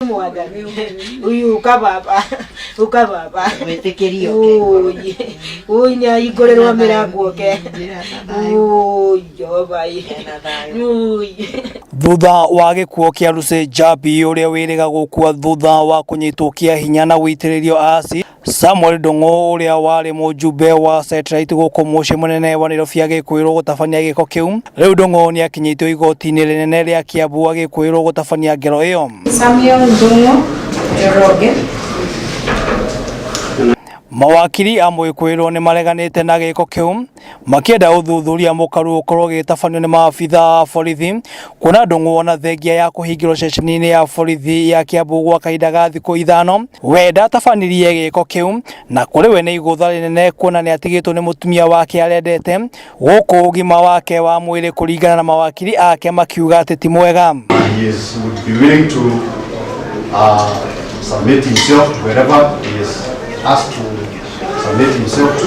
mwaga uyu uka baba uka baba Wĩtĩkĩrio Ũũi, ũũi nĩ ahingũrĩrwo mĩrango oke ũũi jehova ĩ. ũũi thutha wa gĩkuo kĩa Lucy Njabi ũrĩa wĩrĩga gũkua thutha wa kũnyitwo kĩa hinya na gũitĩrĩrio acid Samuel Ndung'u ũrĩa warĩ mũjumbe wa Setirite gũkũ mũciĩ mũnene wa Nairobi agĩkwĩrwo gũtabania gĩko kĩu. Rĩu Ndung'u nĩ akinyĩtio igoti-inĩ rĩnene rĩa Kiambu agĩkwĩrwo gũtabania ngero ĩyo. Samuel Ndung'u Njoroge. Mawakiri a Mwĩkwĩrwo nĩ mareganĩte na gĩko kĩu makĩenda ũthuthuria mũkaru ũkorwo ũgĩtabanio nĩ maabitha a borithi kuona ndũng'ũ ona thengia ya kũhingĩrwo ceceni-inĩ ya borithi ya Kiambu gwa kahinda ga thikũ ithano we ndatabanirie gĩko kĩu na kũrĩ we nĩ igũtha rĩnene kuona nĩ atigĩtwo nĩ mũtumia wake arendete gũkũ ũgima wake wa mwĩrĩ kũringana na mawakiri ake makiuga atĩ ti mwega he is, would be willing to uh, submit himself to wherever he is asked to submit himself to.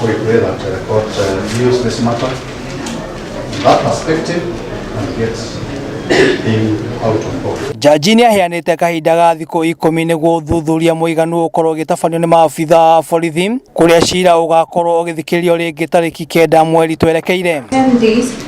Sorry, Greg, I've got uh, views this matter. That perspective, and yes, being out of box. Jaji nĩ aheanĩte kahinda ga thikũ ikũmi nĩguo ũthuthuria mũiganu ũkorwo ũgĩtabanio nĩ maabitha a borithi kũrĩa cira ũgakorwo ũgĩthikĩrĩrio rĩngĩ tarĩki kenda mweri twerekeire. 10 days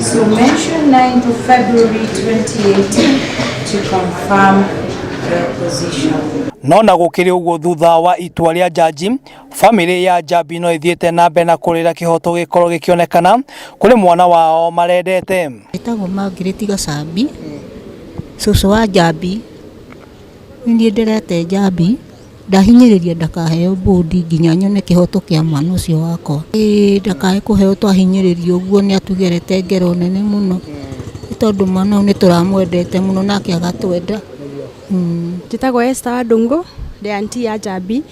So mention 9th of February 2018 to confirm the position. no na gũkĩrĩ ũguo thutha wa itua rĩa njanji famĩlĩ ya njambi no ĩthiĩte na mbere na kũrĩra kĩhoto gĩkorwo gĩkĩonekana kũrĩ mwana wao marendete Etagwo Margaret Gacambi, cũcũ wa Njambi. Nĩ niĩ ndĩrete Njambi, Ndahinyĩrĩria ndakaheo bũndi nginya nyone kĩhoto kĩa mwana ũcio wakwa. Ĩĩ ndakae kũheo twahinyĩrĩrio ũguo nĩ atugerete ngero nene mũno nĩ tondũ mwana ũyũ nĩ tũramwendete mũno nake agatwenda. Njĩtagwo Esther wa Ndũngũ ndĩ auntie ya Njambi.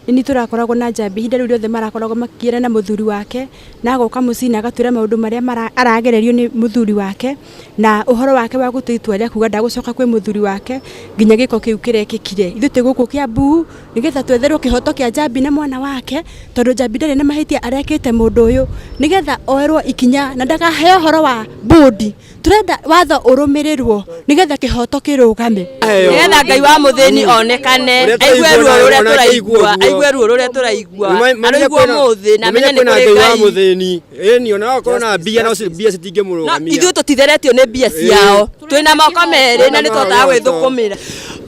Nĩ niĩ tũrakoragwo na Njambi ihinda rĩu rĩothe marakoragwo makĩgiana na mũthuri wake na agoka mũciĩ na agatwĩra maũndũ marĩa aragererio nĩ mũthuri wake. na ũhoro wake wa gũtua itua rĩa kuga ndagũcoka kwĩ mũthuri wake nginya gĩko kĩu kĩrekĩkire ithuĩ twĩ gũkũ kĩa mbuu nĩgetha twetherwo kĩhoto kĩa njambi na mwana wake tondũ njambi ndarĩ na mahĩtia arekĩte mũndũ ũyũ nĩgetha oerwo ikinya na ndakaheo ũhoro wa bũndi tũrenda watho ũrũmĩrĩrwo nĩgetha kĩhoto kĩrũgame nĩgetha ngai wa mũthĩni onekane aigue ruo rũrĩa tũraigua aigue ruo rũrĩa tũraigua aroigua mũthĩ na amenye nĩ kũrĩ ngai Ĩni ona akorwo na mbia no ci- mbia na citingĩmũrũgamia ithuĩ tũtitheretio nĩ mbia ciao twĩ na moko merĩ na nĩ tũhotaga gwĩthũkũmĩra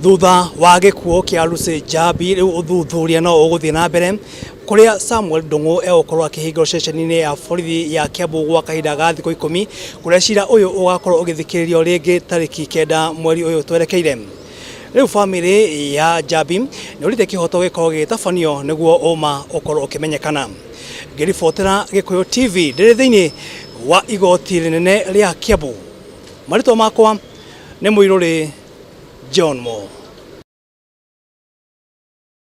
thutha wa gĩkuũ kĩa Lucy Njabi rĩu ũthuthuria no ũgũthiĩ na mbere kũrĩa Samuel Ndung'u egũkorwo akĩhingĩrwo ceceni-inĩ ya borithi ya Kiambu gwa kahinda ga thikũ ikũmi kũrĩa cira ũyũ ũgakorwo ũgĩthikĩrĩrio rĩngĩ tarĩki kenda mweri ũyũ twerekeire rĩu bamĩrĩ ya Njabi nĩũrĩte kĩhoto gĩkorwo gĩgĩtabanio nĩguo ũma ũkorwo ũkĩmenyekana ngĩribotera gĩkũyũ tv ndĩrĩ thĩinĩ wa igoti rĩnene rĩa kiambu marĩtwa makwa nĩ mũirũrĩ john mo